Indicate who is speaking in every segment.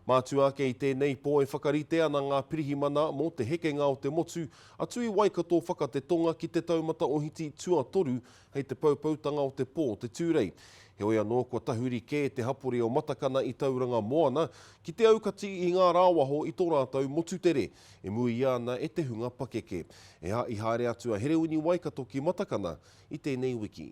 Speaker 1: Mātua ake i tēnei pō e whakarite ana ngā pirihimana mō te hekenga o te motu atu i Waikato whaka te tonga ki te taumata ohiti tuatoru hei te poupoutanga o te pō te Tūrei. Heoi anō kua tahuri kē te hapori o Matakana i Tauranga Moana ki te aukati i ngā rāwaho i tō rātou motu tere e muia ana e te hunga pakeke. Ehā i haere atu a Herewini Waikato ki Matakana i tēnei wiki.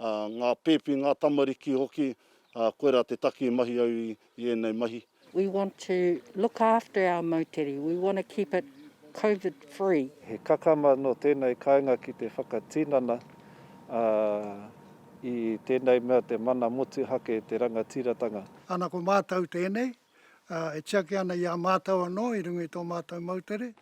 Speaker 2: ngā pēpi, ngā tamariki hoki, koirā te taki i mahi au i ēnei mahi. We want to
Speaker 3: look after our moutere, we want to keep it Covid free. He kakama
Speaker 4: nō tēnei kāinga ki te whakatinana i tēnei mea te mana motuhake, te rangatiratanga. Ana ko mātou
Speaker 5: tēnei. ā, e tiaki ana i a mātou anō i runga i tō mātou moutere.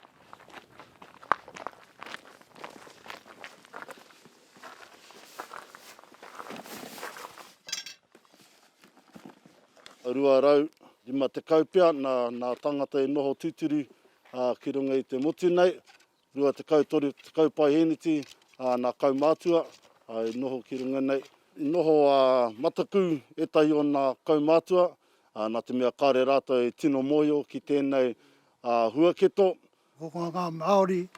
Speaker 2: Rua rau, rima tekau pea nā, nā tāngata e noho tūturu, ā, ki runga i te motu nei, 23 tekau paeheneti a na kaumatua i noho ki runga nei. I noho a Mataku, etahi o na kaumatua, na te mea kare ratou e tino mohio ki tenei huaketo. Ko
Speaker 5: nga Maori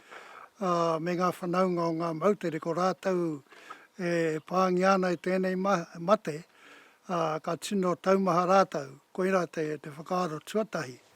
Speaker 5: me nga whanaunga o nga moutere ko ratou e pangia ana i tenei mate, ka tino taumaha ratou. Koira te whakaaro tuatahi.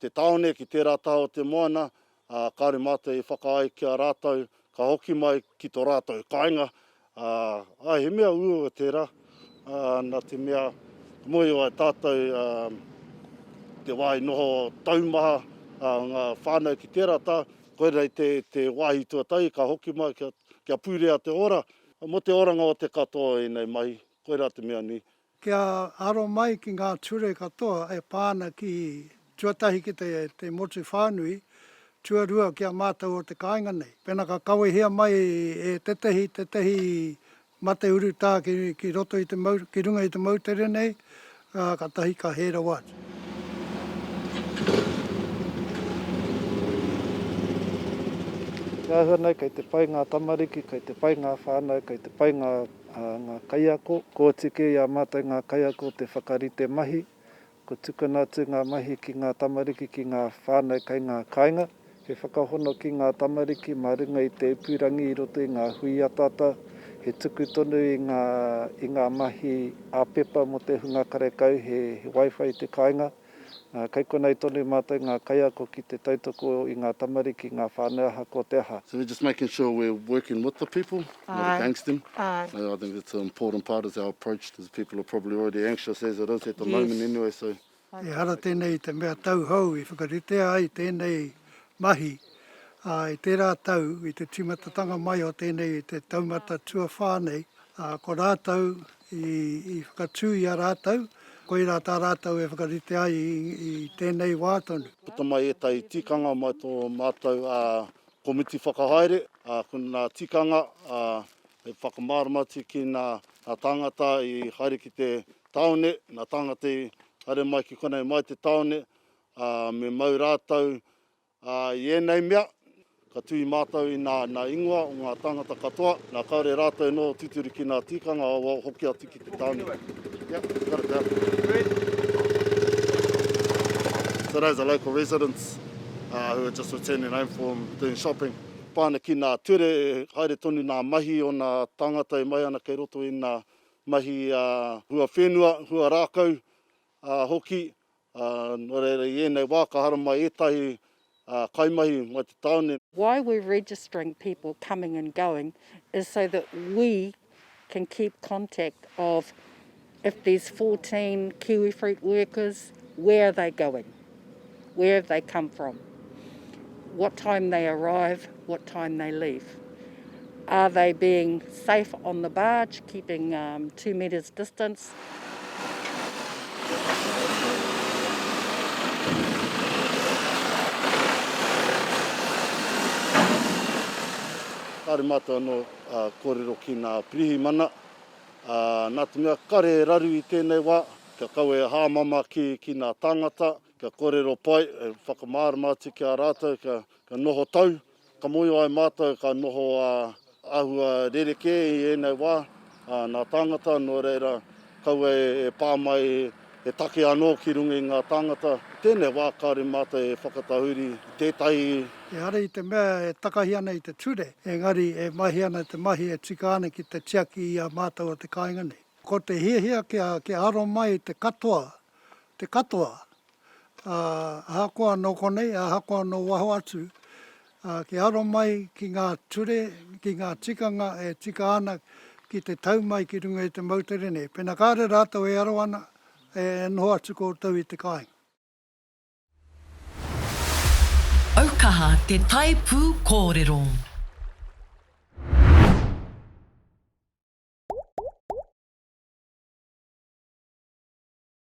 Speaker 2: te tāone ki tērā taha o te moana, ā, kāore mātou i whakaae ki a rātou ka hoki mai ki tō rātou kāinga, ā, ā, he mea uaua tērā, ā, nā te mea ka mōhio ai tātou, ā, ko te wāhi noho taumaha, ā, ngā whānau ki tērā taha, koinei te, te wāhi tuatahi ka hoki mai kia, kia purea te ora, mō te oranga o te katoa o ēnei mahi, koirā te mea nui, Kia aro
Speaker 5: mai ki ngā ture katoa e pā ana ki, tuatahi ki te motu whānui, tuarua ki a mātou o te kāinga nei. Pēnā ka kawehia mai e tētehi, tētehi mate urutā ki roto i te, ki runga i te moutere nei, ā, kātahi ka hē rawa atu.
Speaker 4: He āhua nei kei te pai ngā tamariki, kei te pai ngā whānau, kei te pai ngā. A ngā kaiako, kua oti kē i a mātou ngā kaiako te whakarite mahi, kua tukuna atu ngā mahi ki ngā tamariki, ki ngā whānau kei ngā kāinga, he whakahono ki ngā tamariki mā runga i te ipurangi i roto i ngā hui ataata, he tuku tonu i ngā, i ngā mahi ā-pepa mō te hunga karekau, he, he Wi-Fi i te kāinga. Kei konei tonu mātou ngā kaiako ki te tautoko i ngā tamariki, ngā whānau ahakoa te aha. So we're just making sure
Speaker 2: we're working with the people, not against them. I think that's
Speaker 3: an important
Speaker 2: part is our approach to the people are probably already anxious as it is at the moment anyway, so. Ehara tēnei
Speaker 5: i te mea tauhou i whakaritea ai tēnei mahi i tērā tau i te tīmatatanga mai o tēnei i te taumata tuawhā nei, ko rātou i whakatū i a rātou, koirā tā rātou e whakarite ai i tēnei wā tonu. Puta mai ētahi
Speaker 2: tikanga mai tō mātou komiti whakahaere, ko nā tikanga he whakamārama atu ki nā tāngata i haere ki te tāone, nā tāngata i haere mai ki konei mai te tāone, me mau rātou Ā, i ēnei mea, ka tuhi mātou i nā, nā ingoa o ngā tāngata katoa, nā kāore rātou nō tūturu ki nā tīkanga awao hoki atu ki te tāone. Kia kare te ata. Today's a local residents uh, who are just returning home from doing shopping. Pāna ki nā ture, haere tonu nā mahi o nā tāngata e mai ana kei roto i nā mahi uh, hua whenua, hua rākau uh, hoki, Ā, nō reira i ēnei wā ka haramai ētahi kaimahi mai te tāone. Why we're registering
Speaker 3: people coming and going is so that we can keep contact of if there's fourteen kiwifruit workers, where are they going, where have they come from? what time they arrive, what time they leave. Are they being safe on the barge, keeping um, two metres distance?
Speaker 2: Kāre mātou anō uh, kōrero ki nā pirihimana. Uh, nā te mea kare raru i tēnei wā, kia kawe hāmama ki, ki nā tāngata, Kia kōrero pai, e whakamārama atu ki a rātou kia kia noho tau, ka mōhio ai mātou ka noho āhua rerekē i ēnei wā, ā, nā tāngata, nō reira, kaua e e pā mai he take anō ki runga i ngā tāngata. I tēnei wā kāore mātou e whakatahuri i tētahi. Ehara i te
Speaker 5: mea e takahi ana i te ture, engari e mahi ana te mahi e tika ana ki te tiaki i a mātou o te kāinga nei. Ko te hiahia kia kia aro mai te katoa te katoa, ā, ahakoa nō konei, ahakoa nō waho atu, ā, kia aro mai ki ngā ture, ki ngā tikanga e tika ana ki te tau mai ki runga i te moutere nei. Pēnā kāre rātou e aro ana, e noho atu koutou i te kāinga.
Speaker 6: Aukaha te tae pū kōrero.